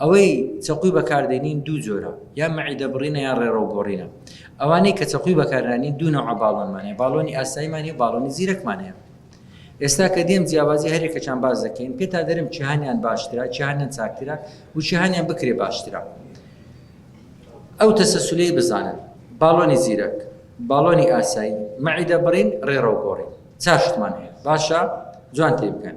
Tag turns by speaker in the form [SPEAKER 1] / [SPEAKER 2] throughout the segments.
[SPEAKER 1] ئەوەی چەقوی بەکاردێنین دوو جۆرە یان مەعیدە بڕینە یان ڕێڕەو گۆڕینە ئەوانەی کە چەقوی بەکارنانین دوو نەوعە باڵۆنمان هەیە باڵۆنی ئاسایمان هەیە و باڵۆنی زیرەکمان هەیە ئێستا کە دێم جیاوازی هەرێکەکان باز دەکەین پێتا دەرم چیهانیان باشترە چیهانیان چاکترە و چیهانیان بکرێ باشترە ئەو تەسەسولەی بزانن باڵۆنی زیرەک باڵۆنی ئاسایی مەعیدە بڕین ڕێڕەو گۆڕین چاشتمان هەیە باشە جوان تێ بکەن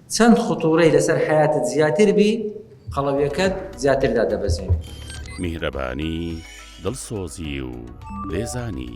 [SPEAKER 1] چەند خطورەی لەسەر حەیاتت زیاتر بی قەڵەویەکەت زیاتر دادەبەزێنێ.
[SPEAKER 2] میهرەبانی،
[SPEAKER 1] دڵسۆزی
[SPEAKER 2] و لێزانی.